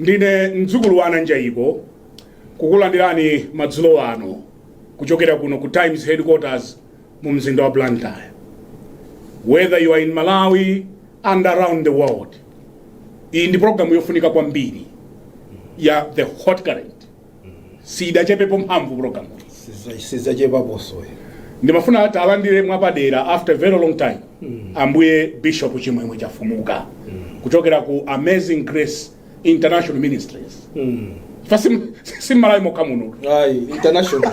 Ndine mdzukulu wa a Nanjaiko kukulandirani madzulo ano kuchokera kuno ku Times headquarters mu mzinda wa Blantyre. Whether you are in Malawi and around the world, iyi ndi programu yofunika kwambiri ya The Hot Current. siidachepepo mphamvu, program sizachepeposo ndimafuna tiwalandire mwapadera after a very long time ambuye bishop chimwemwe chafumuka kuchokera ku amazing grace international ministries fa si m'Malawi mokha muno ayi international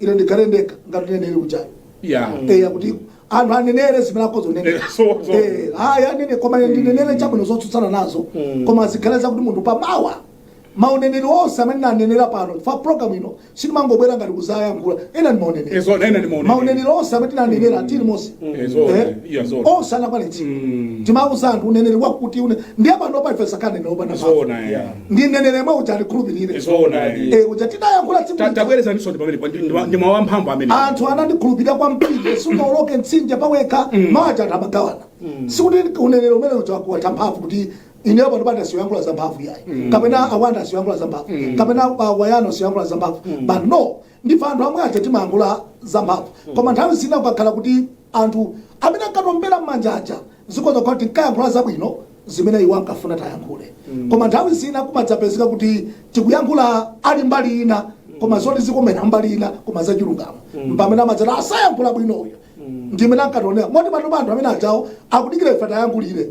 ine ndikhale ndekha ngati uneneri ujayo Yeah. eya kuti anthu anenere zimene akhoza kunenera Eh, so- so- Eh, ayi anene koma ine ndinenere chabwino zotsutsana nazo koma zikhale zakuti munthu pamawa mauneneri onse amene tinanenera pano fa program ino sitimangobwera ngati kuzayankhula ena ndi mauneneri Ena ndi mauneneri. mauneneri onse amene tinanenera a Telemose Ezo, Eh? yeah, zo. onse anakwanitsika timauza anthu uneneri wakuti une ndiye pano paife sakanenera opanda Ezo na yeah. ndi mneneri yemwe uja adikhulupirire Zoonadi. Eh, uja tinayankhula tsiku lija. tabwerezanisoni pamenepo ndi mawu amphamvu amene anthu anandikhulupirira kwambiri sungaoloke mtsinje pawekha maja tumagawana sikuti uneneri umene uja wakutha mphamvu kuti ineyo pano pati asiya kuyankhula za mphamvu yayi kapena a Banda asiya kuyankhula za mphamvu kapena a Wayana asiya kuyankhula za mphamvu but no Ndife anthu amwe aja timayankhula zamphamvu koma nthawi zina kukakhala kuti anthu amene ankatiombera mmanja aja zikhoza kukhala kuti tinkayankhula zabwino zimene iwo ankafuna tayankhule koma nthawi zina kumadzapezeka kuti tikuyankhula ali mbali ina koma zoti zikomera mbali ina koma zachilungamo mpamene amadzati asayankhula bwino uyu ndimene ankationera moti panopa anthu amene ajawa akudikira ife tayankhulire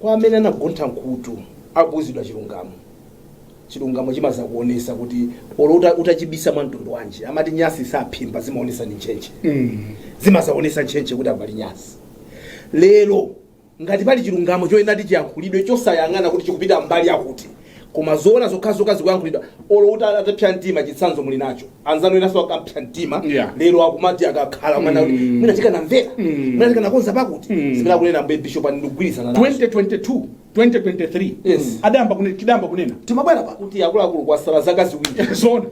Kwa amene anagontha mkhutu akuuzidwa chilungamo, chilungamo chimazaonesa kuti olo utachibisa mwa mtundu wanji amati nyasi saphimba zimaonesa ndi ntchentche zimazaonesa ntchentche kuti apa pali nyasi. Lero ngati pali chilungamo choyenera kuti chiyankhulidwe chosayang'ana kuti chikupita mbali yakuti Koma zoona zokhazoka zikuyankhulidwa olo utapsa mtima chitsanzo muli nacho anzanu enaso akapsa mtima Yeah. lero akumati akakhala mwina kuti mwina tikanamvera mwina tikanakonza pakuti zimene akunena mbuye bishop ine ndikugwirizana nazo 2022 2023 Yes. tidayamba kunena tidayamba kunena timabwera pa kuti akuluakulu kwasala zaka ziwiri zoona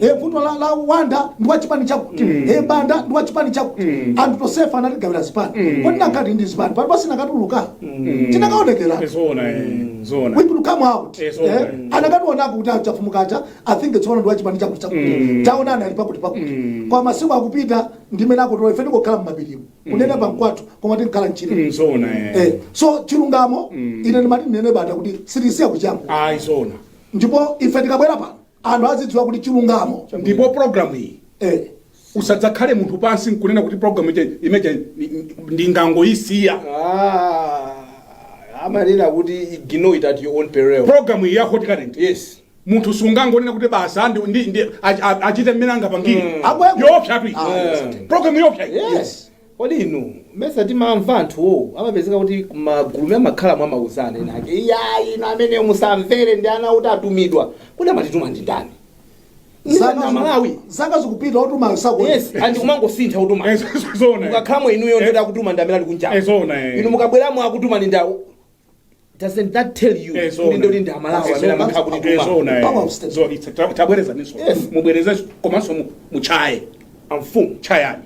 e vuto la, la wanda ndi wa chipani chakuti e banda ndi wa chipani chakuti anthu tosefa anatigawira zipani kodi pakati ndi zipani pano basi tinakatuluka tinakaonekera zoona eh, zoona we could come out Yes, Eh, okay. akanationa kuti achafumukacha i think it's one ndiwachipani chakuti chakuti taonani ali pakuti pakuti kwa masiku akupita ndimene akutola ife tikukhala mmapirimu kunena pankwathu koma timakhala mtchire Mm, zoona eh. Eh, so chilungamo ine ndimati ndinene Banda kuti sitisiya kuchamba ayi zoona ndipo ife tikabwera pano anthu azidziwa kuti chilungamo ndipo program iyi eh, usadzakhale munthu phasi nkunena kuti program ija imeneyija ni- ni- ndingangoyisiya Ah, amanena kuti ignore it at your own peril program iyi ya hot current yes munthu sungangonena kuti basi a- ndi ndi- ndi- ach- a- achite mmene angapangire Akweko. yoopsatu Ah, yes. program yoopsa iyi. yes Kodi inu mesa timamva anthuwo amapezeka kuti kumagulumu amakhala mwamauzana ena ake iyayi inu ameneyo musamvere ndi ana oti atumidwa kodi amatituma ndi ndani nchifukwa amalawi zaka zikupita otumayo sako yes and kumangosintha otumayo mukakhalamo inuyo ndoti akutuma ndi amene ali kunja inu mukabweramo akutuma ndi awo doesn't that tell you Eh, zoona. kuti ndoti ndi amalawi amene Zoona. amakhala kuti Eh, zoona, eh. Power of state. Zoona. It's- ta- tabwerezaninso Yes. mubwerezenso komanso mu- muchaye amfumu chayani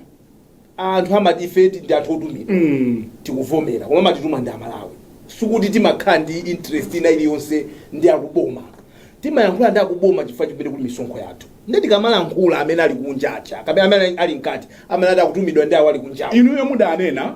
anthu aMalawife ndi anthu otumidwa tikuvomera koma amatituma ndi amalawi sikuti timakhala ndi interest ina iliyonse ndi akuboma timayankhula ndi akuboma chifukwa ndi kumene kuli misonkho yathu ndiye tikamalankhula amene ali kunja kapena amene ali mkati amene ati akutumidwa ndi awo ali kunjawo inuyo mudanena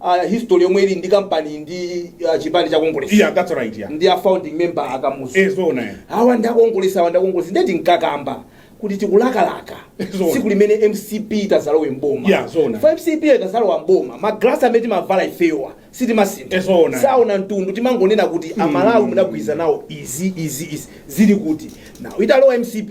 a history yomwe ili ndi kampani ndi ah, chipani cha kongolesi ya that's right ya ndi a founding member akamuzu eh zona ya awa ndakongolesi awa ndakongolesi nde tinkakamba kuti tikulakalaka Zona. tsiku limene mcp itazalowe mboma Yeah, zona. Fa mcp itazalowa mboma magrasi amene timavala ifewa sitimasintha Eh, zona. saona mtundu timangonena kuti amalawi mudagwirizana nawo izi izi izi zili kuti nawo italowa mcp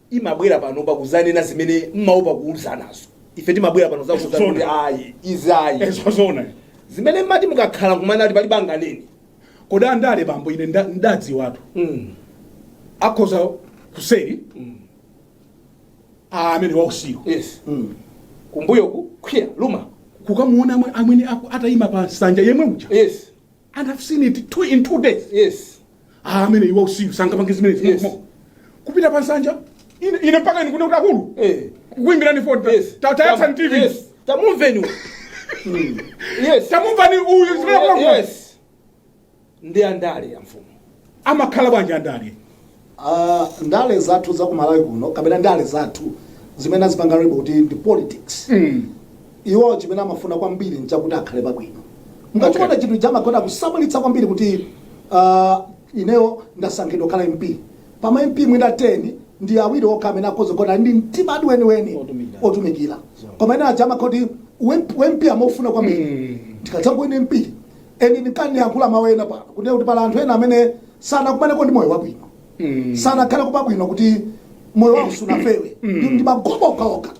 imabwera pano kuzanena zimene mmaopa kuuzanazo ife timabwera pano kuzauzana kuti ayi izi ayi ee zoona zimene mmati mukakhala kumana ali pali banga nini kodi andale bambo ine nda- ndadziwatu mm. akhoza kuseri mm. amene wausiku yes mm. kumbuyo kukwiya luma kukamuona amwe- amwene aku- atayima pa nsanja yemwe uja yes and I've seen it two in two days yes ah amene uja wausiku sangapange zimene Yes. yes. kupita pa nsanja ine ine mpaka ine kunena kuti akulu eh kuimbirani foni yes Ta- tayatsani tv yes tamumvani uyu. Mm. yes tamumvani uyu zimene akulankhula yes ndi andale ya amfumu amakhala bwanji andale uh, ndale zathu za ku malawi kuno kapena ndale zathu zimene azipanga label kuti ndi politics mm. iwo chimene amafuna kwambiri nchakuti akhale pabwino mukachiona Okay. chinthu chamakonda kusamalitsa kwambiri kuti uh, ineyo ndasankhidwa kukhala mp pama mp mwina 10 ndi awiri okha amene akhoza kukhala ndi mtima adi weniweni Otumikira. otumikira koma ena aja amakhoti aMP amofuna kwambiri Mm. ndikadzangowina mp and ndikandiyankhula mawu ena pano kunena kuti pali anthu ena amene sanakumanepo ndi moyo wabwino sanakhale pabwino kuti moyo wawo sunafewe ndi ndi magobo okhaokha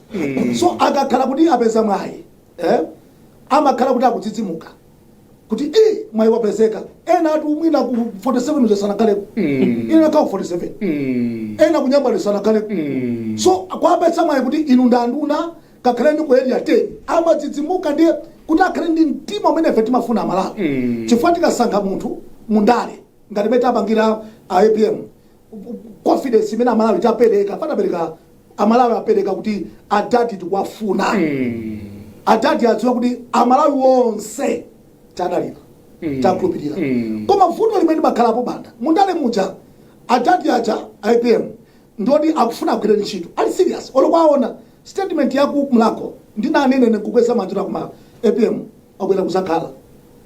so akakhala kuti apeza mwayi eh, amakhala kuti akudzidzimuka kuti eh, mwayi wapezeka ena ati mwina ku 47 uja sanakhaleko ina nakhala ku 47 ena kuNyambadwe sanakhaleko so kwapeza mwayi kuti inu ndanduna ngakhale ndi ku area 10 amadzidzimuka ndiye kuti akhale ndi mtima umene ife timafuna amalawi mm. chifukwa tikasankha munthu mundale ngati imene tapangira APM confidence imene amalawi tapereka patapereka amalawi apereka kuti adadi tikuwafuna mm. adadi adziwa kuti amalawi onse tadalira mm. takhulupirira mm. koma vuto limene limakhalapo m'banda mundale muja adadi aja apm ndoti akufuna agwire ntchito ali serious olo kwaona statement ya ku mlakho ndinanena ine kukweza manja kuti akuma apm wabwera kuzakhala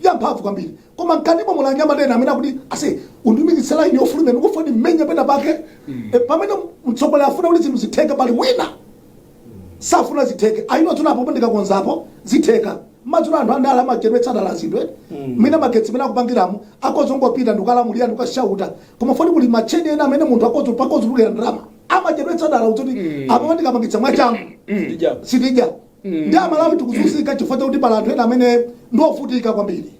kwa mphamvu kwambiri koma mkatimo muli anyamata ena amene akuti asokoneze laini yofulumira ndikufuna ndimenye pena pake Eh, pamene mtsogoleri afuna kuti zinthu zitheke pali wina safuna zitheke akuona apo ndikakonzapo zitheka mukuona anthu andale amachedwetsa dala zinthu zina magetsi mene akupangiramo akhoza kungopita ndikukalamulira ndikukashauta koma poti kuli macheni ena amene munthu akhoza kutulukira ndalama amachedwetsa dala kuti apo ndikapangitsa mwachangu sitidya ndi amalawi tikuzunzika chifukwa chakuti pali anthu ena amene ndiofutika kwambiri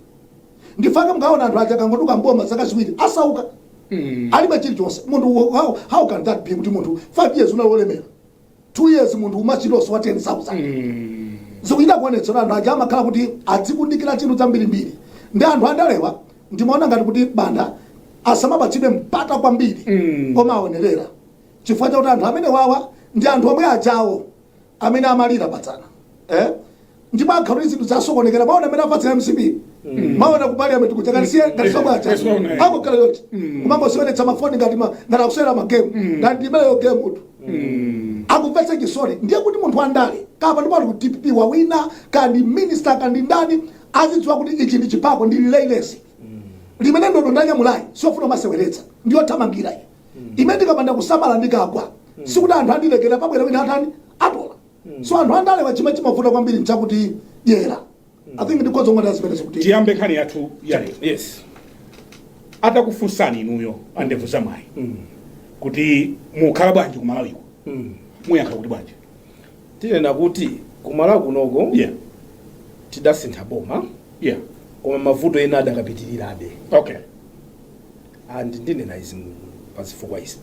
nchifukwa chake mukaona anthu aja kangoduka mboma zaka ziwiri asauka Mm. alibe chilichonse munthu wo- how, how can that be kuti munthu 5 years unali wolemera 2 years munthu ukuchita kusowa wa 10000 Mm. zikuchita kuonetsera anthu aja amakhala kuti adzikundikira chuma chambirimbiri ndi anthu andalewa ndimaona ngati kuti banda asamapatsidwe mpata kwambiri Mm. koma aonerera chifukwa chakuti anthu amenewa ndi anthu omwe aja amene amalira padzana eh? ndipo akhala kuti zinthu zasokonekera mwaona amene afatsira mcp mwaona ku parliament kuja ngati si iwo ngati sikunacha Yes, mwaona, eh. akungokhala yoti kumangoseweretsa mafoni ngati ma- ngati akusewera magemu ngati ndi video game mmutu akumvetsa chisoni ndiye kuti munthu wandale kaya ndi wa ku dpp wawina kaya ndi minister kaya ndi ndani azidziwa kuti ichi ndi chipako ndi relay race limene ndodo ndanyamulayi siyofuna kumaseweretsa ndiyothamangira iyi imene ndikapanda kusamala ndikagwa sikuti anthu andilekera pabwera wina atani atola so anthu andalewa chimene chimavuta kwambiri mchakuti dyera i think ndi kodzikonda ngati azipereza kuti tiyambe nkhani yathu ya lero yes atakufunsani inuyo andevu za mwayi kuti mukukhala bwanji kumalawiko muyankha kuti bwanji tinena kuti kumalawi kunoko yeah tidasintha boma yeah koma mavuto ena adakapitirirabe okay And ndinena izi pa zifukwa izi.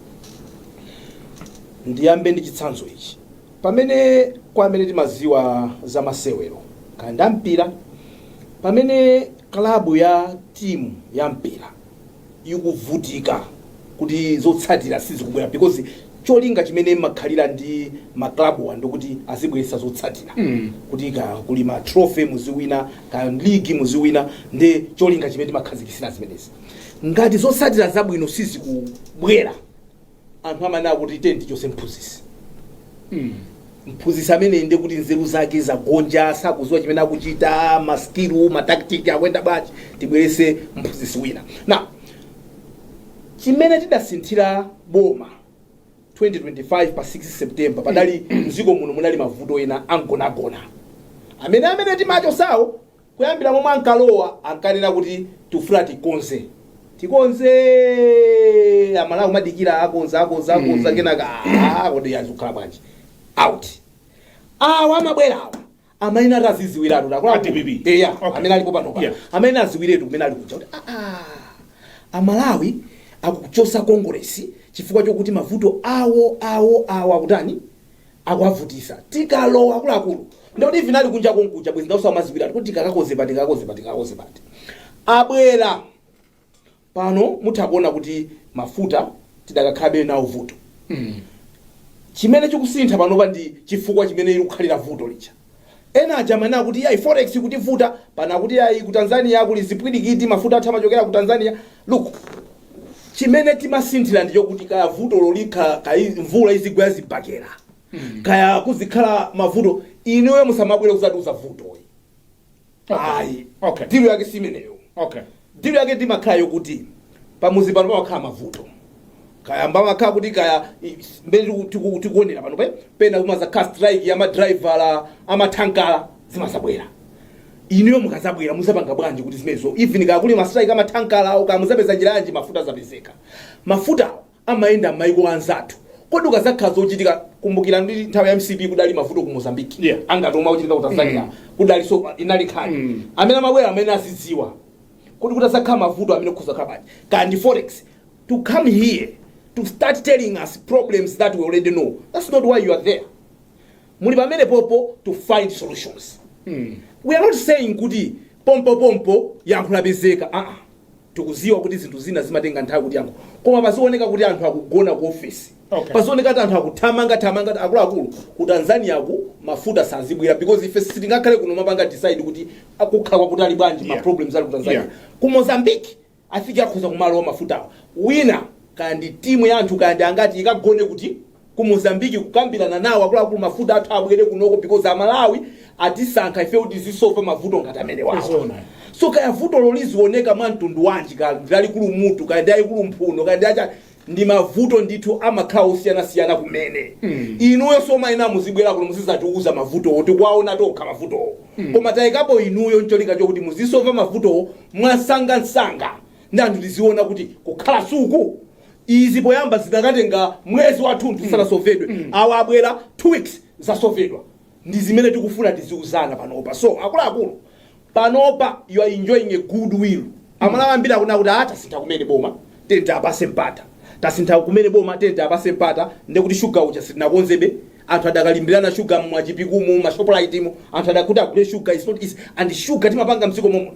Ndiyambe ndi chitsanzo ichi. Pamene kwa amene timaziwa za masewero kaya ndi ampira, pamene klabu ya timu ya mpira ikuvutika kuti zotsatira sizikubwera because cholinga chimene makhalira ndi maklabuwa ndikuti azibweretsa zotsatira kuti kaya kuli ma trophy muziwina kaya ligi muziwina ndi cholinga chimene timakhazikisira zimenezi ngati zotsatira zabwino sizikubwera anthu amanena kuti tim'chotse mphunzitsi mphunzitsi ameneyu nde kuti nzeru zake zagonja sakuziwa chimene akuchita maskilu mataktiki akuyenda bwanji tibwerese mphunzitsi wina na chimene tidasinthira boma 2025 pa 6 september padali mdziko muno munali mavuto ena amgonagona amene amene timachosawo Kuyambira momwe ankalowa ankanena kuti tikufuna tikonze, tikonzee! Amalawi kumadikira akonza, akonza, akonza kenaka aah kodi azi kukhala bwanji? Out. Awa amabwera awa amene ataziziwiratu A takula DPP. eya Okay. amene alipo panopa Yeah. amene aziwiretu kumene ali kuja kuti aah amalawi akuchosa kongolesi chifukwa chokuti mavuto awo awo awo akutani akuwavutisa tikalowa akuluakulu ndikuti ivi vinali kunja konkuja bwezi ndausa umaziwiratu kuti tikakakoze pati tikakakoze pati tikakakoze pati abwera pano mutha kuona kuti mafuta tidakakhalabe nawo vuto chimene chikusintha panopa ndi chifukwa chimene likukhalira vuto licha Ena aja amanena kuti iyayi forex ikutivuta, pano akuti iyayi ku Tanzania kuli zipwirikiti, mafuta athu amachokera ku Tanzania. Look, chimene timasinthira ndi chokuti kaya vutolo likhala, kaya mvula izigwa yazibakera, kaya kuzikhala mavuto, inuyo musamabwere kuzatiuza vuto. Ayi, Okay. deal yake simeneyo. Okay. Deal yake ndimakhala yokuti pamuzi pano pamakhala mavuto. Kaya mbamakhala kuti kaya i- mbele tiku- tiku- tikuonera panopa pena kumazakhala strike ya madriver amathankala zimazabwera. Inuyo mukazabwera muzapanga bwanji kuti zimenezo even kaya kuli mastrike amathankala awo kaya muzapeza njira yanji mafuta azapezeka. Mafutawo amayenda mmaiko anzathu kodi kukazakhala zochitika kumbukira ndi nthawi ya mcp kudali mavuto ku mozambique Yeah. angati omwe akuchitika ku tanzania kudali so inali nkhani Mm. amene amabwera amene azidziwa kodi kutazakhala mavuto amene kuzakhala bwanji kaya ndi forex to come here to start telling us problems that we already know that's not why you are there muli pamenepopo to find solutions we are not saying kuti pompopompo yankho lapezeka aa tikuziwa kuti zinthu zina zimatenga nthawi kuti yankho koma pazioneka kuti anthu akugona ku ofesi Okay. pazioneka kuti anthu akuthamanga thamanga kuti akuluakulu ku tanzania ku mafuta sazibwera because ife sitingakhale kuno kumapanga decide kuti akukhala kwakutali bwanji ma Yeah. problems ali ku tanzania Yeah. ku mozambique Afike azikhoza kumalowa mafutawa. Wina kaya ndi timu ya anthu kaya ndi angati ikagone kuti? Ku Mozambique kukambilana nawo akuluakulu mafuta athu abwere kunoko because amalawi atisankha ifeyo kuti tizisova mavuto ngati amenewa. So kaya vuto lolizioneka mwa mtundu wanji kaya ndi lalikulu mutu kaya ndi lalikulu mphuno kaya ndi lachani ndi mavuto ndithu amakhala osiyanasiyana kumene inuyo simuyenera muzibwera kuno muzizatiuza mavutowo tikuwaona tokha mavutowo koma taikapo inuyo ncholinga chokuti muzisova mavutowo mwamsangamsanga ndi anthu tiziona kuti kukhala suku izi poyamba zikanatenga mwezi wathunthu zisanasovedwe awa abwera two weeks zasovedwa ndi zimene tikufuna tiziuzana panopa so akuluakulu panopa you are enjoying a good will amalawi ambiri akunena kuti ah tasintha kumene boma tiyeni tiapase mpata tasintha kumene boma tiyeni tiapase mpata ndekuti shuga uja sitinakonzebe anthu adakalimbirana shuga mwa Chipikumu ma Shopritemu anthu adakuti agule shuga is not easy and shuga timapanga mdziko momwe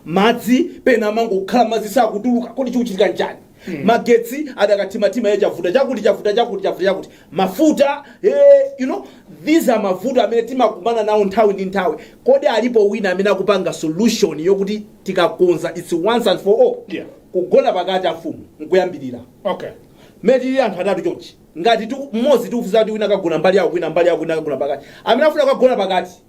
madzi pena amangokhala madzi sakutuluka kodi chikuchitika nchani magetsi adakathimathima ye chavuta chakuti chavuta chakuti chavuta chakuti mafuta eh, you know these are mavuto amene timakumana nawo nthawi ndi nthawi kodi alipo wina amene akupanga solution yokuti tikakonza its once and for all Yeah. kugona pakati amfumu nkuyambirira okay mmene tili anthu atatu chonchi ngati tu- mmodzi tikumuuza kuti wina akagona mbali yako wina mbali yako wina akagona pakati amene afuna akagona pakati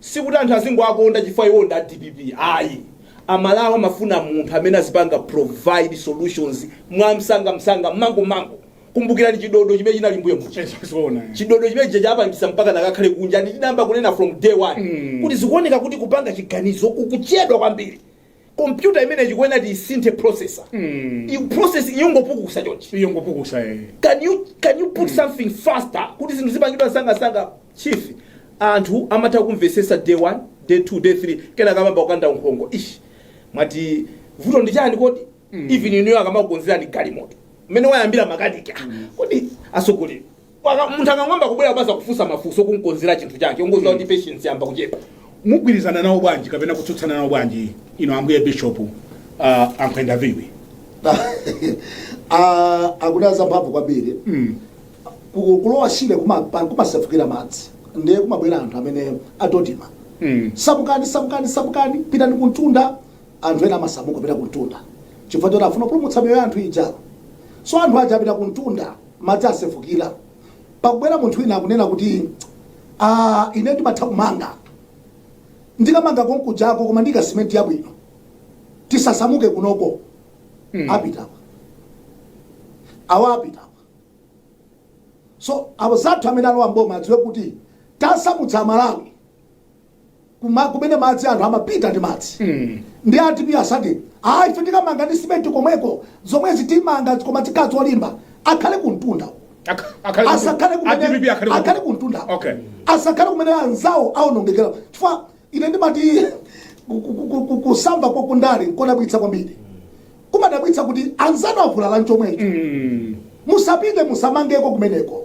Sikuti anthu azingowakonda chifukwa iwowo ndi a dpp ayi. A Malawi amafuna munthu amene azipanga provide solutions mwamsangamsanga, mangu-mangu. Kumbukirani chidodo chimene chinali mbuyo muja. Eh, zo- zoona, eh. Chidodo chimenechija chapangisa mpaka akakhale kunja ndi tidayamba kunena from day one kuti zikuoneka kuti kupanga chiganizo kukuchedwa kwambiri. kompyuta imeneyi chikuyenera tiisinthe processor Iyo processor ikungopukusa chonchi ikungopukusa eh. can you can you put something faster kuti zinthu zipangidwe msangamsanga chief anthu amatha kumvesesa day 1 day 2 day 3 kenaka amayamba kukanda kunkhongo ish mwati vuto ndi chani kodi even inuyo akamakukonzerani galimoto mmene wayambira makaniki ah, kodi asogolera Paka- munthu akangoyamba kubwera kubaza kufunsa mafunso kunkonzera chinthu chake ungodziwa kuti patience yayamba kuchepa mugwirizana nawo bwanji kapena kutsutsana nawo bwanji inu ambuye bishop uh, ankhwenda viwi Ah, akuti azamphamvu kwambiri Ku- kulowa shire kuma- pa- kumasefukira madzi ndiye kumabwera anthu amene a DoDMA Mm. samukani samukani samukani pitani kumtunda anthu ena amasamuka kupita kumtunda chifukwa choti afuna kupulumutsa miyoyo ya anthu ija so anthu aja apita kumtunda madzi asefukire pakubwera munthu wina akunena kuti ah, ine ndimatha kumanga ndikamanga konkujako koma ndika simenti yabwino tisasamuke kunoko Mm. apitawa awa apitawa so abale athu amene alowa mboma adziwe kuti tasamutsa amalawi kumene madzi anthu amapita ndi madzi mm. ndi a timu ya Sade ah, ife tikamanga ndi simenti komweko zomwezi timanga koma zikhala zolimba akhale kumtunda asakhale kumene akhale kumtunda okay. asakhale kumene anzawo aonongekera chifukwa ine ndimati kusamba kwa ku ndale nkodabwitsa kwambiri kumadabwitsa kuti anzanu avulala nchomwecho mm. musapite musamangeko kumeneko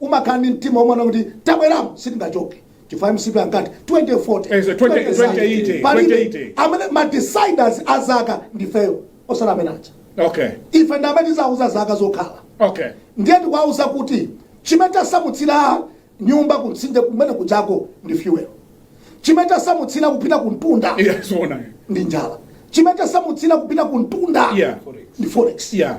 umakhala ndi mtima womaona kuti tabweramo sitingachoke chifukwa mcp ankati 2040 Eh, so 20 2080, palibe 2080. amene ma deciders a zaka ndifeyo osati amene aja okay ife ndi amene tizauza zaka zokhala okay ndiye tikuwauza kuti chimene tasamutsira nyumba kumtsinje kumene kuja ko ndi fuel chimene tasamutsira kupita kumtunda yeah zoona ndi njala chimene tasamutsira kupita kumtunda Yeah. ndi forex yeah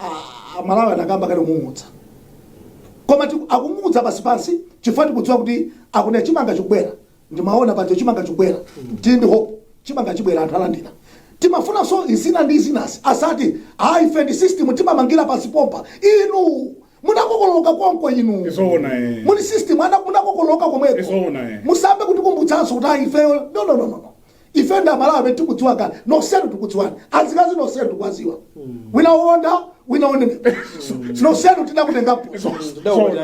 a- amalawi anakamba kale kung'ung'udza koma tiku- akung'ung'udza pansi pansi chifukwa tikudziwa kuti akunena chimanga chikubwera ndimaona paja chimanga chikubwera tili ndi hope chimanga chibwera anthu alandira timafunanso izina ndi izinasi asati ayi ife ndi system timamangira pansi pompa inu munakokoloka konko inu Izoona, eh. muli system ana munakokoloka komweko Izoona, eh. musayambe kutikumbutsanso kuti ayi ifeyo no no no no no. ife ndi amalawi tikudziwa kale nonsenu tikudziwani azikazi nonsenu tikuwaziwa wina uonda wina unenepa nonsenu tidakutengapo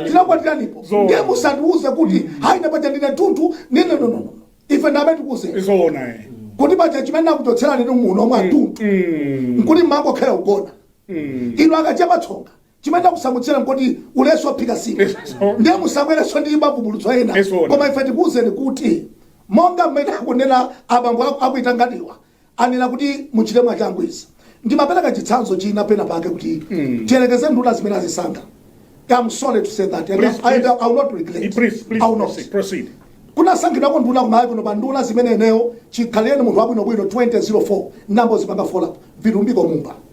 tidakukwatiranipo Zoona. ndiye musatiuze kuti hayi ndapaja ndine tunthu ndine nonono ife ndiye tikuuzeni zoona eh. kuti paja chimene nakuchotserani ni muno mwa tunthu Mm. nkuti mumangokhala ogona inu akachepa tsonga chimene nakusamutsira nkuti ulesi ophika sima ndiye musabwerenso ndi mavumbulutso ena koma ife tikuwuzeni kuti monga mmene akunena abambo aku- akuitanganiwa anena kuti muchite mwachangu izi ndimapereka chitsanzo china pena pake kuti tiyerekeze nduna zimene azisankha I'm sorry to say that and Please, I, please. I will not regret Please, please I will not proceed. proceed. kunasankhidwa nduna kumayiko kuno pa nduna zimene eneyo chikhalireni munthu wabwinobwino 2004 nambo zipanga fola vilumbiko mumba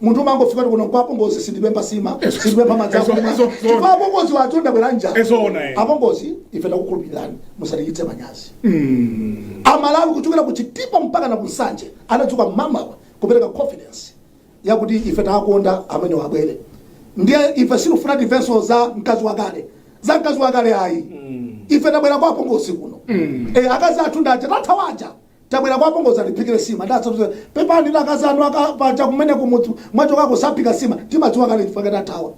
munthu umangofika kuti kuno kwa apongozi sindipempha sima Ezo- sindipempha madzi ezo- akumwa ezo- chifukwa apongozi wathu ndabwera njala Ezoona, eh. apongozi ife takukhulupilirani musatichitse manyazi amalawi kuchokera ku chitipa mpaka na ku nsanje anadzuka mamawa kupereka confidence yakuti ife tawakonda amene wabwerayu ndiye ife sitifuna timvenso za mkazi wakale za mkazi wakale ayi ife tabwera kwa apongozi kuno Eh, akazi athu ndaja tathawaja Tabwera kwa apongozi atiphikire sima ndiye zoti pepani ndi akazi anu akapaja kumene kumudzi mwachokako saphika sima timadziwa kale chifukwa chake tathawa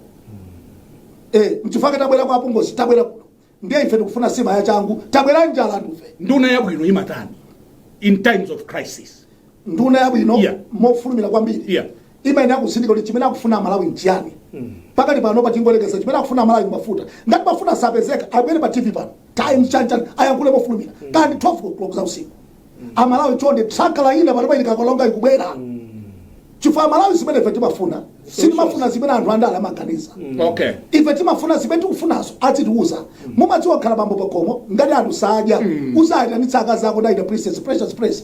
eh mchifukwa chake tabwera kwa apongozi tabwera kuno ndiye ife tikufuna sima ya changu tabwera njala ife nduna yabwino imatani in times of crisis nduna yabwino Yeah. mofulumira kwambiri Yeah. imayenera kutsindika kuti chimene akufuna amalawi nchiyani pakali panopa tingoyerekeza chimene akufuna amalawi ndi mafuta ngati mafuta sapezeka abwere pa tv pano times chanchan ayankhule mofulumira kaya ndi 12 o'clock za usiku amalawi chonde tanker ina panopa ili ku Karonga ikubwera chifukwa amalawi zimene ife timafuna sitimafuna zimene anthu andale amaganiza okay ife timafuna zimene tikufunazo azitiuza mumadziwa khala bambo pakhomo ngati anthu sadya uzayitana akazi ako ndaita princess precious prince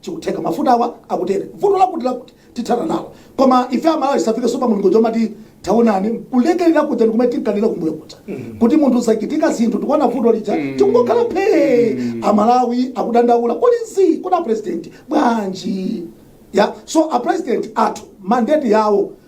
chikutheka mafutawa akutere vuto lakuti lakuti tithana nalo koma ife amalawi safike sopa mulungu chomati taonani kulekerera kuja ndikumene tinkalira kumbuyo kuja kuti munthu zachitika zinthu tikuona vuto lija tikungokhala phee amalawi akudandaula kuti kodi apresidenti bwanji yeah so apresidenti athu mandate yawo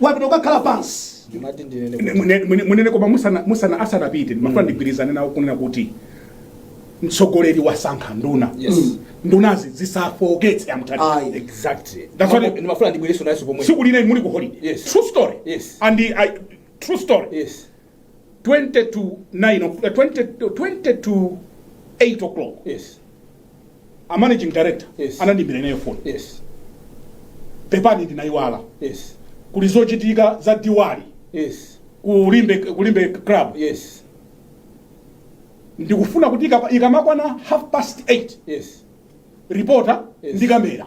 wapita ukakhala pansi Ndimati ndinene kuti Mune- mune- munene koma musana- musana asanapite ndimafuna ndigwirizane nawo kunena kuti mtsogoleri wasankha nduna Yes. Mm. ndunazi zisafoketse amutani ayi exactly That's what- ndimafuna ndibwerenso nayenso pomwe tsiku lina ndili ku holiday Yes. true story Yes. and I, true story yes 20 to 9 o'clock, eh, 20, 20 to 8 o'clock yes a managing director Yes. anandimbira ineyo phone yes pepani ndinayiwala yes kuli zochitika za diwali yes ku Limbe ku Limbe club yes ndikufuna kuti ikapa- ikamakwana half past 8 yes reporter Yes. ndi kamera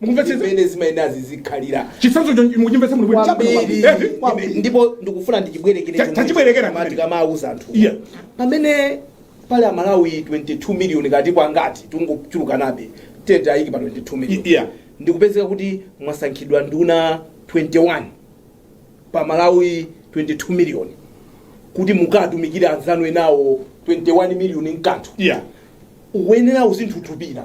mukumvetsetsa mmene zimayenera zizikhalira chitsanzo cho mukuchimvetsa muno bwino chabwino kwambiri eti Kwambiri. ndipo ndikufuna ndichibwerekere Cha- chomwe- tachibwerekerani koma kumene. tikamawuza anthu Iya. pamene pali amalawi 22 miliyoni kapena ngati tingochulukanabe tete ayiki pa 22 I- iya. miliyoni ndikupezeka kuti mwasankhidwa nduna 21 pa amalawi 22 miliyoni kuti mukatumikire anzanu enawo 21 miliyoni nkanthu iya uyenera uzinthutupira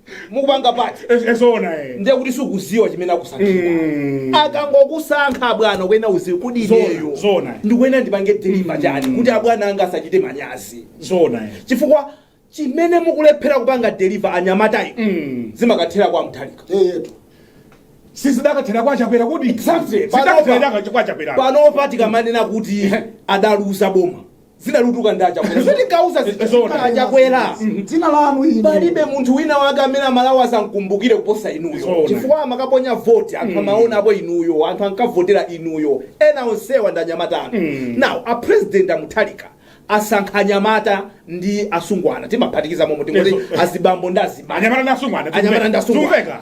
mukupanga party Eh, eh, zoona eh. ndiye kuti sukuziwa chimene akusankhira Mm. akangokusankha abwana ukuyenera uziwe kuti Zona, ineyo zona. ndikuyenera ndipange deliva chani kuti abwana anga asachite manyazi zoona eh. chifukwa chimene mukulephera kupanga deliva anyamatayi Mm. zimakathera kwa Mutharika eyetu sizidakathera kwa Chakwera kuti Exactly. zidakathera kwa Chakwera panopa tikamanena kuti adaluza boma Dzina likutuka ndi a Chakwera ife tinkauza zija Zoona. a Chakwera dzina lanu inu palibe munthu wina wake amene amalawi azamkumbukire kuposa inuyo Zoona. chifukwa amakaponya voti anthu amaona apo inuyo anthu ankavotera inuyo ena onsewa ndi anyamata anu now a president a Mutharika asankha anyamata ndi asungwana timaphatikiza momo tingoti Yes. azibambo ndi azimai anyamata ndi asungwana anyamata ndi asungwana Zimveka.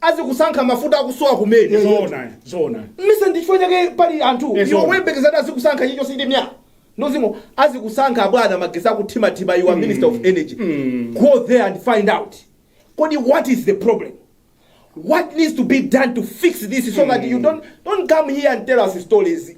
azikusankha mafuta akusowa kumene Eh, zoona zoona ndiye ndi chifukwa chake pali anthu Eh, iwo zoona. woyembekezera kuti azikusankha choncho sindi mya nozimo azikusankha abwana magetsi akuthimathima you are minister of energy Mm. go there and find out kodi what is the problem what needs to be done to fix this so that you don't, don't come here and tell us stories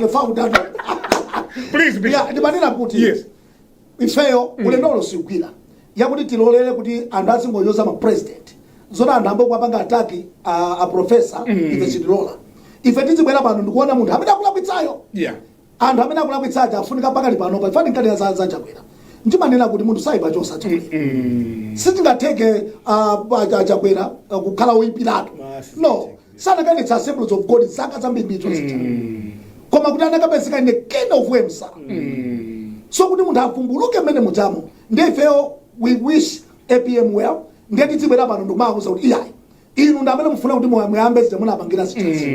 The founder. Please, Bishop. Yeah, ndimanena kuti. Yes. Ifeyo ulendo uno sigwira. Yakuti tilolere kuti anthu azingonyoza ma president. Zona anthu amabwera kuwapanga attack a, a professor ife sitilola. Ife tizibwera pano ndikuona munthu amene akulakwitsayo. Yeah. anthu amene akulakwitsa aja afunika pakali pano pa fani nkati za za chakwera ndimanena kuti munthu saipa chonsa chakwera sitingatheke ah, pa- cha- chakwera ah, kukhala woyipiratu Basi. no sanakanatsogoza assemblies of god zaka zambirimbiri zija koma kuti anakapezeka ine king of worms so kuti munthu avumbuluke mmene muchamo ndiye ifeyo we wish apm well ndiye tidzibwera pano ndikumakuuzani kuti ayi inu ndi amene mufuna kuti moyo muyambe zija munapangira zija za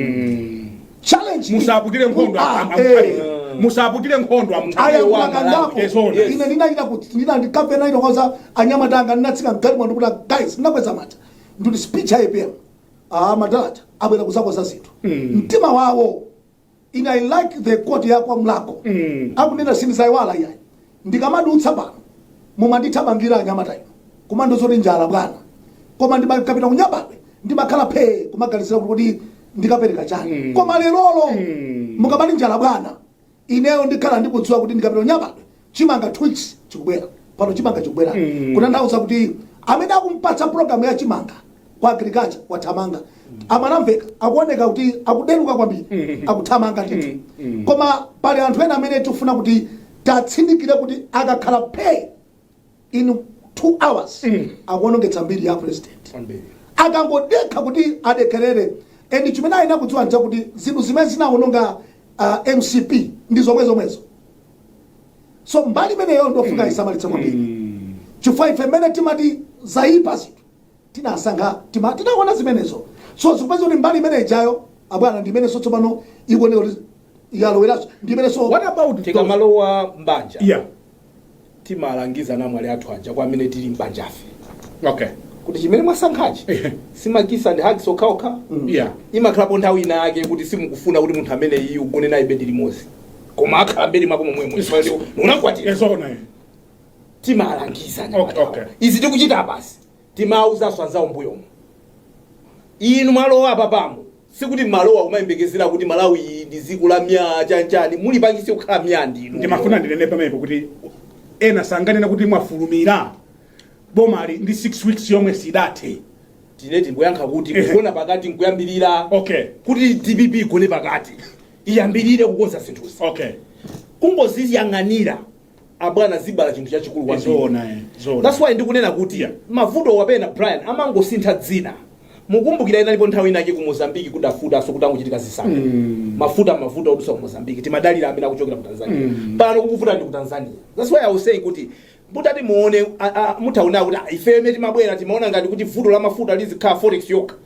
challenge iyi. musaputire nkhondo Ah, am- am- eh. musaputire nkhondo aya kumakandapo a Mutharika zoona ine ndinachita kuti ndina ndikapena ndinawauza anyamata anga ndinatsika mgalimoto ndikuti guys ndinakweza mawu ndikuti speech ya APM ah madala aja abwera kuzakonza zinthu mtima wawo in i like the quote ya kwa Mlakho akunena sindizayiwala iyayi ndikamadutsa pano mumandithamangira anyamata inu kumandiuza zoti njala bwana koma ndikapita ku Nyambadwe ndimakhala phee kumaganizira kuti ndikapereka chani koma lerolo mukamati njala bwana ineyo ndikhala ndikudziwa kuti ndikapita ku Nyambadwe chimanga twix chikubwera pano chimanga chikubwera Mm. kutanthauza kuti amene anampatsa programu ya chimanga kwa agriculture wathamanga a Mwanamvekha akuoneka kuti akudeluka kwambiri Mm. akuthamanga ndithu Mm. Mm. koma pali anthu ena amene tikufuna kuti tiwatsindikire kuti akakhala pay in two hours mm. akuonongetsa mbiri ya president akangodelera kuti adelere and chimene ayenera kudziwa nchakuti zinthu zimene zinaononga uh, mcp ndi zomwe zomwezo so mbali imeneyo ndofuna isamalitse kwambiri mm. chifukwa ife mmene timati zayipa zinthu tinasankha tima tinaona zimenezo so tikupeza kuti mbali imene ijayo abwana ndi imenenso tsopano ikuoneka kuti yaloweraso ndi imenenso what about tikamalowa mbanja yeah timalangiza anamwali athu aja kwa amene tili m'banjafe okay kuti chimene mwasankhachi Ehe. si ma kiss ndi ma hugs okhaokha Yeah. imakhalapo nthawi ina yake kuti simukufuna kuti munthu ameneyu ugone naye bedi limodzi koma akhala m'bedi mwako momwemo unakwatira eee zoona timalangiza Okay, okay. izi tikuchita basi Timawauzanso anzawo mbuyomu inu mwalowa apapamo sikuti mmalowa kumayembekezera kuti Malawi iyi ndi dziko la myaa chani chani mulipangitse kukhala myaa ndinu. ndimafuna ndinene pamenepo kuti ena sanganene kuti mwafulumira bomali ndi 6 weeks yomwe sidathe tine tingoyankha kuti Ehe. kugona pakati nkuyambirira okay kuti dpp igone pakati iyambirire kukonza zinthuzi okay kungoziyang'anira abwana zibala chinthu chachikulu kwambiri zoona eh, zoona that's why ndikunena kuti Yeah. mavutowa pena brian amangosintha dzina mukumbukira inalipo nthawi inake ku mozambiki kudavutanso kutangochitika zisankho Mm. mafuta mavuto odutsa ku mozambiki timadalira amene akuchokera ku tanzania Mm. pano kukuvuta ndi ku tanzania that's why i was saying kuti mutati muone a- a- mutaona kuti ah, ife mmene timabwera timaona ngati kuti vuto la mafuta lizikhala forex yokha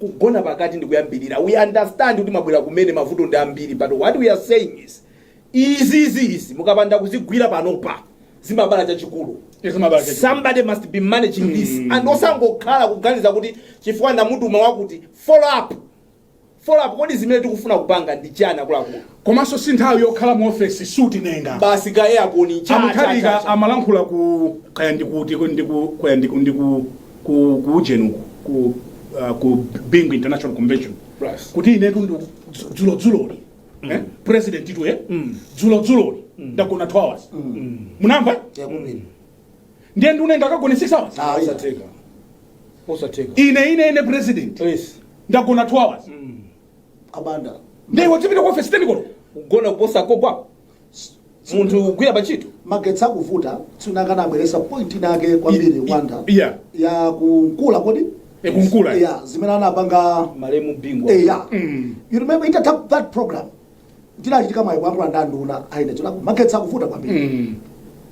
kugona pakati ndikuyambirira we understand kuti mwabwera kumene mavuto ndi ambiri but what we are saying is izi izi izi mukapanda kuzigwira panopa zimabala chachikulu Zimabala chachikulu. somebody must be managing this and osangokhala kuganiza kuti chifukwa ndamutuma wakuti follow up follow up kodi zimene tikufuna kupanga ndi chani akuluakulu Komanso sinthawi yokhala mu office suit nenga. Basi ka aircon cha. Amutharika amalankhula ku kaya ndikuti ndiku kaya ndiku ndiku ku ku ujenu ku uh, ku Bingu International Convention. Right. Kuti inetu ndi dzulo dzuloli. Mm. Eh? Presidentitu eh? Mm. Dzulo dzuloli. Mm. Ndagona 2 hours. Mm. Munamva? Eh? Yeah, mm. Ndiye nduna nde akagone 6 hours. Ah, osatheka. Osatheka. Ine ine ine president. Yes. Ndagona 2 hours. Mm. a banda ndiye wadzipita ku ofesi teni koloko kugona kuposa kogwa munthu kugwira pa ntchito magetsi akuvuta tsiku lina anabweretsa point inake kwambiri a banda yeah. ya ku nkula kodi Eh, ku nkula. yeah, zimene anapanga malemu bingu yeah. you remember itatha that program ndinachita ka mwayi kuyankhula ndi anduna a energy kuti magetsi akuvuta kwambiri Mm.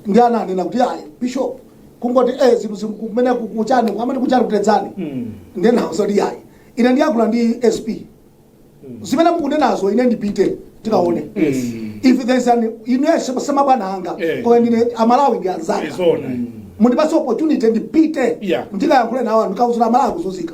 ndiye ananena kuti ayi bishop kungoti eh zinthu zim- kumene ku- kuchani amati kuchani ku tedzani Mm. nde ndinauza kuti ayi ine ndiyankhula ndi sp zimene mukunenazo ine ndipite tikaone Mm. if there's an ine si mabwana anga Eh. koma ndine amalawi ndi anzanga Zoona. mundipatse opportunity ndipite Yeah. ndikayankhule nawo ndikauzira amalawi kuzunzika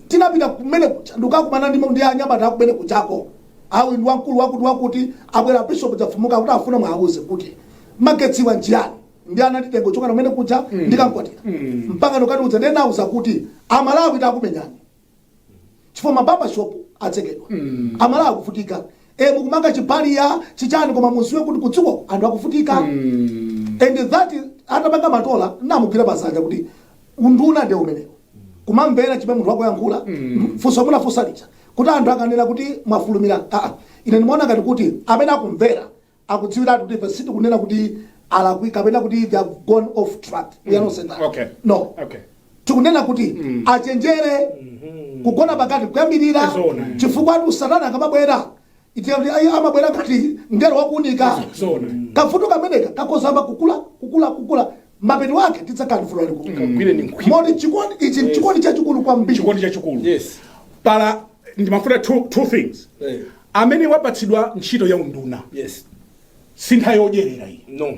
Tinapita kumene kuja ndikukakumana ndi ndi anyamata akumene kujako. A uyu ndi wamkulu wakuti wakuti, abwera Bishop Dzafumuka akuti afuna muwauze kuti magetsiwa nchiyani. Ndiye ananditenga kuchokera kumene kuja ndi kamkwatira mpaka ndikukatiuza. Ndiye ndinauza kuti a Malawi akumenyani chifukwa ma barber shop atsekedwa. A Malawi akuvutika. Eh, mukumanga chi barrier, chi chani koma mudziwe kuti kudziko anthu akuvutika. And that atapanga Matola namugwira pa dzanja kuti unduna nde umenewo kumamvera chimene munthu wakuyankhula funso munafunsa lija kuti anthu akanena kuti mwafulumira aa ine ndimaona ngati kuti amene akumvera akudziwiratu kuti ife sitikunena kuti alakwika kapena kuti they have gone off track we are not saying that Okay. no Okay. tikunena kuti achenjere kugona pakati kuyambirira Zoona. chifukwatu satana akamabwera Itiyankhule ayi amabwera ngati mngelo wa kuunika. Kavuto kameneka kakhozamba kukula, kukula, kukula, mapeto ake tidzakhala ndi vuto lalikulu. Kagwireni mkwiyo. Moti chikondi ichi ndi chikondi chachikulu kwambiri. chikondi chachikulu Yes. pala ndimafuna two, two things Eh. amene wapatsidwa ntchito ya unduna Yes. si nthawi yodyerera iyi No.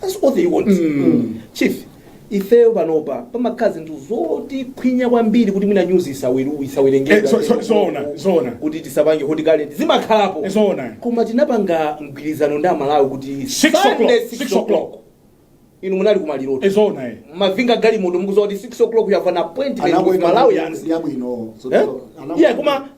That's what they want. Mm. Chief, ifeyo panopa pamakhala zinthu zotikhwinya kwambiri kuti mwina nyuzi isawiru isawerengedwa Eh, so- so- zoona, zoona. kuti tisapange Hot Current zimakhalapo Eh, zoona. koma tinapanga mgwirizano ndi amalawi kuti Six Sunday, o'clock, six six o'clock. o'clock. inu munali kumalirotu Ee zoona eh. mavinga galimoto mukuziwa kuti 6 o'clock you have an appointment with Malawi yanzi yabwino Eh? yeah koma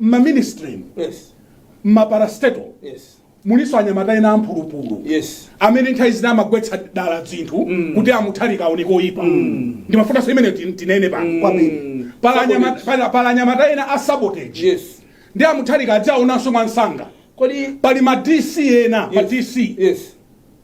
mma ministry Yes. mma parastatal Yes. mulinso anyamata ena amphulupulu Yes. amene nthawi zina amagwetsa dala dzinthu kuti a Mutharika aoneke oyipa ndimafunanso imene ti- tinene pano Kwambiri. Pali anyama- pali- pali anyamata ena a sabotage Yes. ndi a Mutharika adziwaonanso mwansanga Kodi pali ma dc ena ma Yes. dc Yes.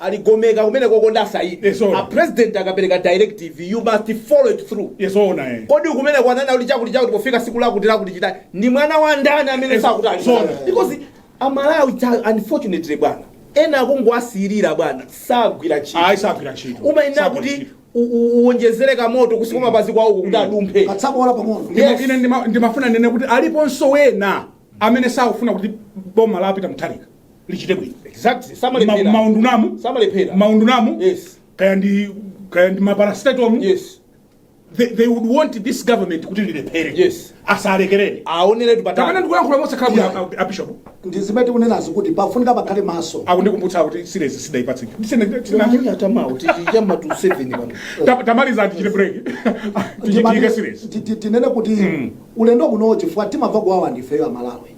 A Ligomeka kumenekoko ndi a Saidi. Yes, sir. A president akapereka directive you must follow it through. Yes, zoona eh. Kodi kumene kwanena kuti chakuti chakuti pofika siku lakuti lakuti chita ndi mwana wa ndani amene Yes, sakuti ali. zoona. Because amalawi cha unfortunately bwana ena akungowasiyira bwana sagwira ntchito. Ayi sagwira ntchito. umayenera Sagwira kuti ntchito. u- u- uwonjezere kamoto kunsi kwa mapazi kwawo kuti adumphe katsabola pang'ono Yes. Ine ndima- ndimafuna ndinene kuti aliponso wena amene sakufuna kuti boma la Peter Mutharika lichite bwino Exactly. Samalephera. Ma- maundunamu Samalephera. maundunamu Yes. kaya ndi kaya ndi maparasitatomu Yes. they, they would want this government kuti lilephere Yes. asalekerere Aoneretu kapena patali. ndikuyankhula mosakhala bwino Yeah. a- a- abishop ndizimene tikunenazi kuti pafunika pakhale maso akundikumbutsa kuti silezi sidaipatse tamaliza tichite break tichitike silezi tinene kuti ulendo kunowo chifukwa timamva kuwawa ndifeyo amalawi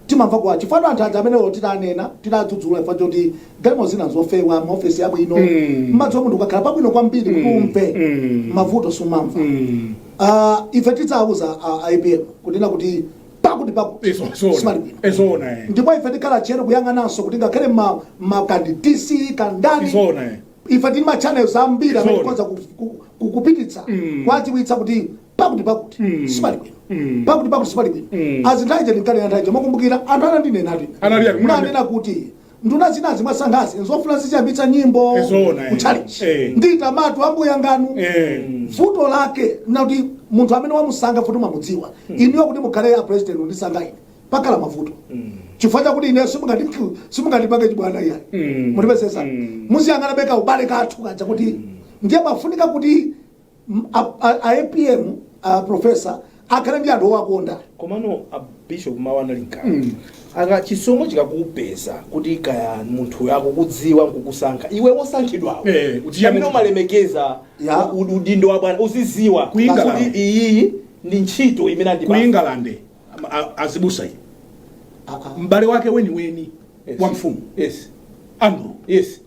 timamva kuwawa chifukwa anthu aja amene olo titanena titadzudzula chifukwa choti galimo zina nzofewa maofesi abwino Mm. mmadziwa munthu ukakhala pabwino kwambiri kuti Mm. umve Mm. mavuto sumamva Mm. Ah, ife tidzawuza a APM kunena kuti pakuti pakuti Izo- zona. simali bwino Ee zoona, eh. ndipo ife tikhala tcheru kuyang'ananso kuti ngakhale ma- kaya ndi dc kaya ndani Izona, eh. ife tili ma channels ambiri amene Zona. tikhoza ku- ku- ku- kupititsa Mm. kuwadziwitsa kuti pakuti pakuti Mm. sipali bwino Mm. pakuti pakuti sipali bwino Mm. nthawi chete ndinkanena nthawi chete mukumbukira anthu anandinena Anali ati, munani- nanena kuti nduna zinazi mwasankhazi nzofuna zichambitsa nyimbo Eh, zoona, eh. kutchalichi Eh. nditamatu ambuya nganu Eh. vuto lake nakuti munthu amene wamusankha futi mwamudziwa inuyo kuti mukhale a president undisankha ine pakhala mavuto chifukwa chakuti ine simungati- simungandipange chibwana iyayi Mm. mutipesesa Mm. muziyang'anabe ka ubale kathu kaja kuti ndiye pafunika kuti a apm a professor akhale ndi anthu owakonda komano a bishop mawu anali mkati Mm. akati chisomo chikakupeza kuti kaya munthu akukudziwa nkukusankha iwe wosankhidwawo Eh, uchiya amene munthu. umalemekeza Ya. u- udindo wa bwana uziziwa Ku England. kuti iyiyi ndi ntchito imene ku andipatsa england a- a- azibusa iyi Ah, ah. m'bale wake weniweni Yes. wa mfumu yes andrew yes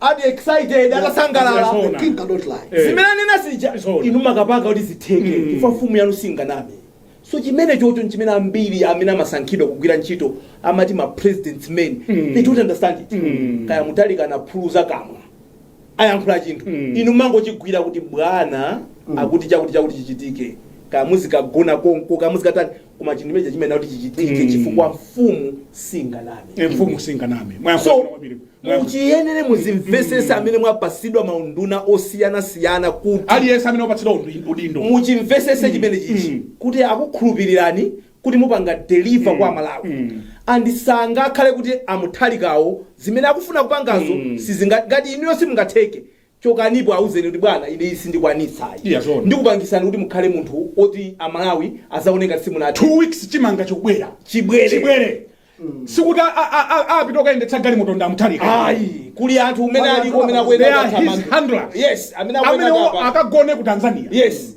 ati excited atasangalala Yes, sir. The king cannot lie. Eh. zimene anena zija Zoona. inu mukapanga kuti zitheke Mm. chifukwa mfumu yanu singaname so chimene chocho nchimene ambiri amene amasankhidwa kugwira ntchito amati ma president's men Mm. they don't understand it Mm. kaya Mutharika anapuluza kamwa ayankhula chinthu Mm. inu mangochigwira kuti bwana akuti chakuti chakuti chichitike kaya muzikagona konko kaya muzikatani koma chinthu chimenechi chimayenera kuti chichitike chifukwa mfumu singaname Eh, mfumu singaname so mwayankho kwambiri Mwayankho- muchiyenere muzimvesese amene mwapatsidwa maunduna osiyanasiyana kuti aliyense amene wapatsidwa undi- udindo muchimvesese chimene chichi mm. kuti akukhulupirirani kuti mupanga deliver kwa malawi mm. and sangakhale kuti a Mutharikawo zimene akufuna kupangazo mm. sizinga ngati inuyo simungatheke chokanipo auzeni kuti bwana ine iyi sindikwanitsa ayi Yeah, zoona. ndikupangisani kuti mukhale munthu oti amalawi azaona ngati simunati two weeks chimanga chikubwera Chibwere. chibwere sikuti a- a- a- a- apita okayendetsa galimoto ndi a Mutharika ayi kuli anthu umene Wala aliko umene anthu they are his handlers. yes amene amene akuyendatamanga akagone ku tanzania yes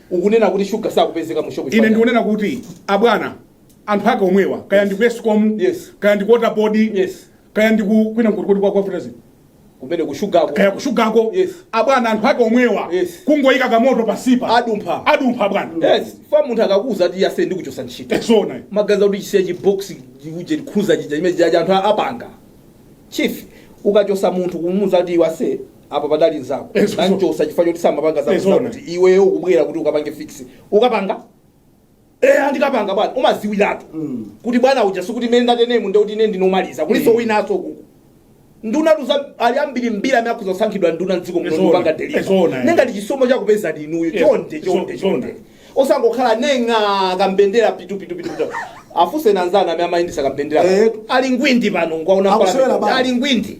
Ukunena kuti sugar sakupezeka mu shop chifukwa Ine chani? ndikunena kuti abwana anthu ake omwewa kaya ndi ku Escom Yes. kaya ndi ku water board Yes. kaya ndi ku kwina kuti kodi kwa kwa Fertilizer, Kumene ku sugar ku. kaya ku shugako Yes. abwana anthu ake omwewa Yes. kungoyika kamoto pansipa Adumpha. adumpha abwana Yes, fa munthu akakuuza ati iwe ase ndikuchosa ntchito. esona magazi akuti chisiya chibox uje likhuza chija chimene chija anthu apanga chief ukachosa munthu kumuuza kuti iwe ase apa padali nzako Eh, so- so- nanchosa chifukwa choti samapanga Eh, zako zoona. kuti iweyo ukubwera kuti ukapange fix ukapanga Eh, andikapanga bwana umadziwiratu kuti bwana uja sikuti mene ndatenemu ndekuti ine ndi womaliza kuliso winaso kuku nduna tuza ali ambiri mbiri amene akufuna kusankhidwa nduna mdziko muno Zoona. ndikupanga deliver Zoona, eh. ndiye ngati chisomo chakupeza ndinuyo Yes. chonde Zo- chonde zoona. chonde osangokhala nenga kambendera pitu pitu pitu pitu afunse anzanu amene amayendesa kambendera Eh. ali ngwindi pano ngwaona Akusewera bawo. ali ngwindi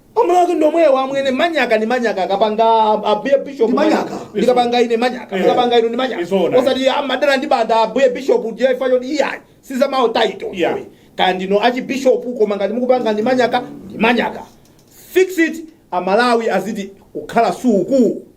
Amalawi ndi omwewa amwene manyaka ndi manyaka akapanga ambuye bishop Ndi manyaka. ndikapanga ine manyaka Eh. mukapanga inu ndi manyaka Zoona. osati amadana ndi Banda ambuye bishop ndi chifukwa choti iyayi si za ma title Yeah. iwe. kaya ndinu archbishop koma ngati mukupanga ndi manyaka ndi manyaka fix it amalawi azidikukhala suku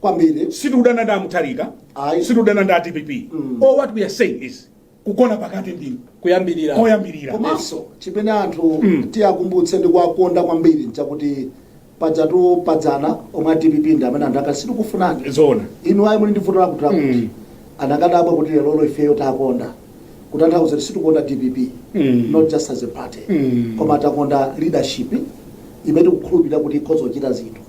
kwambiri sitikudana ndi amutharika Ayi. sitikudana ndi a dpp all what we are saying is kugona pakati ndi kuyambirira komanso chimene anthu tiwakumbutse ndi kuwakonda kwambiri nchakuti pajatu padzana omwe a dpp ndi amene anthu akati sitikufunani zoona inu ayi muli ndi vuto lakuti lakuti angadabwe kuti lero ifeyo takonda sikutanthauza kuti sitikukonda dpp Mm. not just as a party Mm. koma takonda leadership imene tikukhulupirira kuti ikhoza kuchita zinthu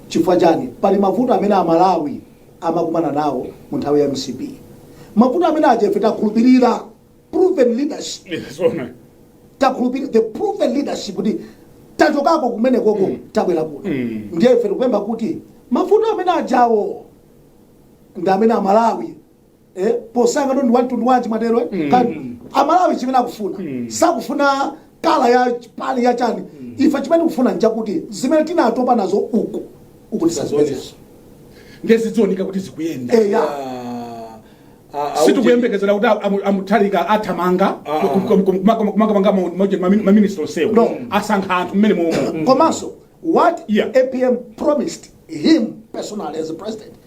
Chifukwa chani? Pali mavuto amene a Malawi amakumana nawo mu nthawi ya mcp. Mavuto amene aja ife takhulupirira proven leadership. Zoona. Takhulupirira the proven leadership kuti tachokako kumene koko tabwera kuno. Mm. Ndiye ife tikupempha kuti mavuto amene ajawo ndi amene a Malawi eh, posankha ndi wamtundu wanji mwatero eh? Mm. Ka- amalawi chimene akufuna Mm. sakufuna colour ya party ya chani ife chimene tikufuna nchakuti zimene tinatopa nazo uku uku tisazipezenso nde zizioneka kuti zikuyenda eya sitikuyembekezera kuti amu- amutharika athamanga Ah. kumanga ma minister onsewo No. asankha anthu mmenemomwe komanso what Yeah. apm promised him personally as a president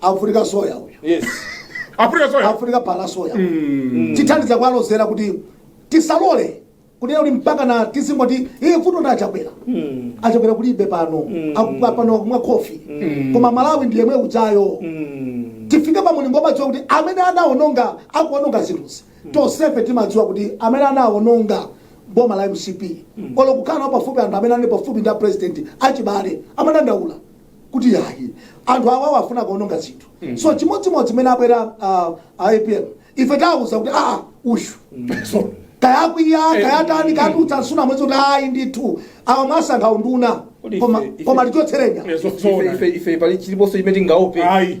afunika shower uyu yes afunika shower afunika phala soya tithandiza kuwalozera kuti tisalole kunena kuti mpakana tizingoti iye vuto ndi achakwera achakwera kulibe pano Akupa- pano akumwa khofi koma malawi ndi yemwe ujayo tifike pa mulingo omadziwa kuti amene anaononga akuononga zinthuzi tonsefe timadziwa kuti amene anaononga boma la mcp olo kukhala pafupi anthu amene anali pafupi ndi a president achibale amene adandaula kuti ayi anthu awawa afuna kuononga zinthu so chimodzimodzi mmene abwera ah, a apm ife tawauza kuti aa uyu so kaya akwiya kaya atani kadutsa nsuna mwezi kuti ayi ndithu awa mwasankha unduna Kodi koma ife- ife- koma tichotsereni Ife- ife- ife pali chiliponso chimene tingaope Ayi.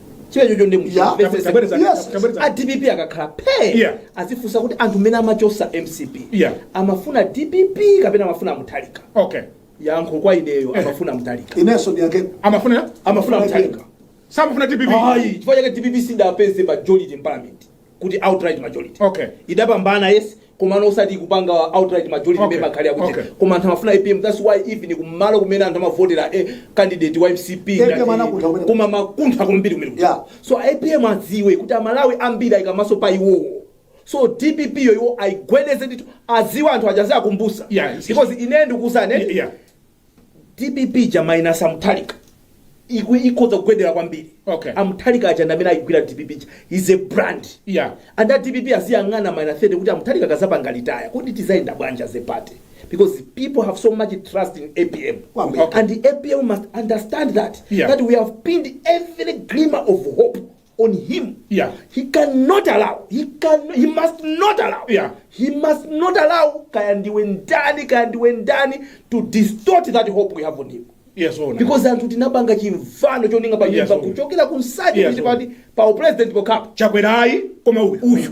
chimenecho ndi Yeah. muchimvetsetse Tabwereza- Yes. tabwereza- a dpp akakhala phe Yeah. azifunsa kuti anthu mmene amachotsa mcp Yeah. amafuna dpp kapena amafuna mutharika okay yankho kwa ineyo Eh. amafuna mutharika inenso ndiyake amafuna amafuna mutharika samafuna dpp ayi chifukwa chake dpp sidapeze majority in parliament kuti outright majority Okay. idapambana yes komano osati kupanga outright majority Okay. okay. makhali akuti Okay. koma anthu amafuna apm that's why even kumalo kumene anthu amavotera eh, candidate wa mcp APM ngati- anakuntha kumene. koma amakuntha kwambiri kumene Yeah. so apm adziwe kuti amalawi ambiri aika maso pa iwowo so dpp yo iwo ayigwedeze ndithu adziwe anthu aja aziwakumbutsa Yeah. because ine ndikuwuzeni Yeah. dpp ija minus amuthalika iku ikhoza kugwedera kwambiri Okay. amuthalika aja ndi amene ayigwira dpp ija is a brand Yeah. and a dpp aziyang'ana minus 30 kuti amuthalika akazapanga retire kuti tizayenda bwanji as a party because people have so much trust in apm Kwambiri. and the apm must understand that Yeah. that we have pinned every glimmer of hope on him Yeah. he cannot allow he can he must not allow Yeah. he must not allow kaya ndiwe ndani kaya ndiwe ndani to distort that hope we have on him Yes, ona. because anthu tinapanga chimvano choninga pa Yes, nyumba sir. kuchokera ku nsanje Yes, sir. kuti pa upresident pokhapo chakwerayi koma uyu uyu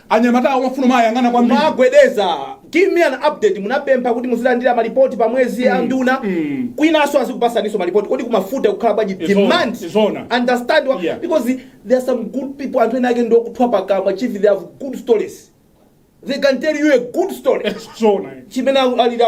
Anyamata amafuna kuwayang'ana kwambiri. Mwagwedeza, give me an update, munapempha kuti muzilandira malipoti pa mwezi a nduna kwinaso azikupasaniso malipoti kodi kumafuna kukhala bwanji Izona, demand izona. understand wa, Yeah. because there are some good people anthu ena ake ndiokuthwa pakamwa chief they have good stories they can tell you a good story Zona. chimene alira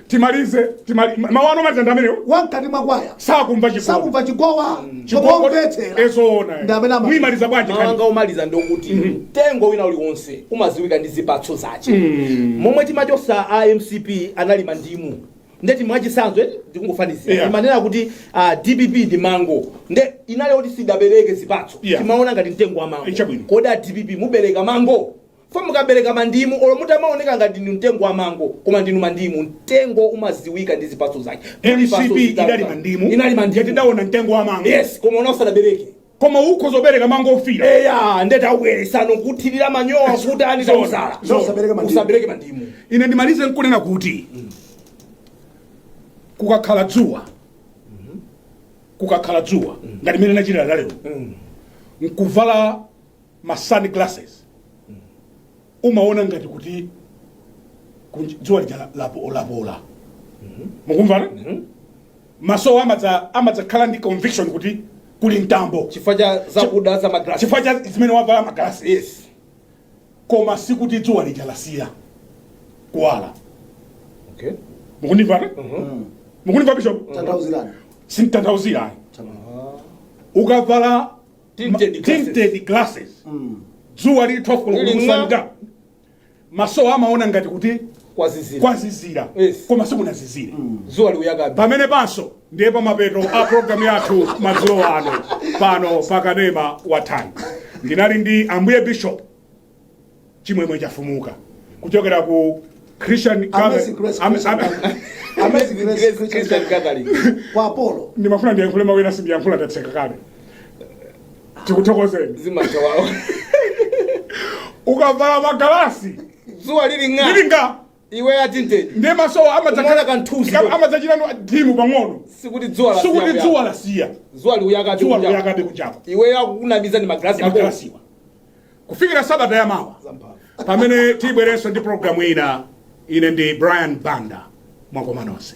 timalize timali mawu ano maliza ndi amenewo wamkati mwa kwaya sakumva chikondi sakumva chikowa chikowa omvera ezoona Ndi amene ama- muyimaliza bwanji mawu anga kani omaliza ndokuti mtengo wina uliwonse umaziwika ndi zipatso zace momwe timachosa a mcp anali mandimu ndeti mwachisanzo eti ndikungofanizira Yeah. timanena kuti ah, dpp ndi mango nde inali kuti sidabereke zipatso Yeah. timaona ngati mtengo wa mango Ichabwino. kodi a dpp mubereka mango Chifukwa mukabereka mandimu olo mutamaoneka ngati ndinu mtengo wa mango koma ndinu mandimu. Mtengo umaziwika ndi zipatso zake. Muli mcp patso zitatu idali zanu. mandimu Inali mandimu. ndiye tidaona mtengo wa mango Yes, koma uno usanabereke. koma ukhoza kubereka mango ofira Eya, nde taubweretsano kuthirira manyowa kuti ani Zona, tauzala. zona. Usabereke mandimu. Usabereke mandimu. ine ndimalize nkunena kuti kukakhala dzuwa kukakhala dzuwa ngati mene lachitira lalero nkuvala ma sun glasses umaona ngati kuti kunj- dzuwa lija la- lapo- lapola mukumva maso amadza- amadzakhala ndi conviction kuti kuli mtambo chifukwa cha zakuda za magrasi chifukwa cha zimene wavala magalasi yes koma sikuti dzuwa lija lasiya kuwala okay mukundimvana mukundimva bishop tanthauzirani sinditanthauzira ukavala Tinted ma- glasses. tinted glasses dzuwa lili 12 koloko Lili ng'aa. kusanja maso amaona ngati kuti kwazizira kwazizira Yes. koma sikunazizire zuwa likuyakabe pamene panso ndiye pamapeto a programu yathu madzulo ano pano pakanema wa Times ndinali ndi ambuye bishop chimwemwe chafumuka kuchokera ku christian Amazing Grace Am- Christian am- Gathering. Amazing Grace Grace Christian Christian Gathering. Gathering. Kwa Apollo. ndimafuna ndiyankhule mawu ena sindiyankhula ndatseka kale tikuthokozeni zikomo wawa ukavala magalasi dzuwa lili ng'a lili ng'a Iweyo atinted. Ndiye maso amadzakhala Umaona kamthunzi ndika- kodi? amadzachita no- dim pang'ono. Sikuti dzuwa la- Sikuti siya dzuwa kuyaka. lasiya. Dzuwa likuyaka Dzuwa likuyaka. likuyakabe kunjako. Iweyo akukunamiza ndi magalasi ako. Magalasiwa. Kufikira sabata ya mawa. Zamphamvu. Pamene tibwerenso ndi programu ina ine ndi Brian Banda mwakoma nonse.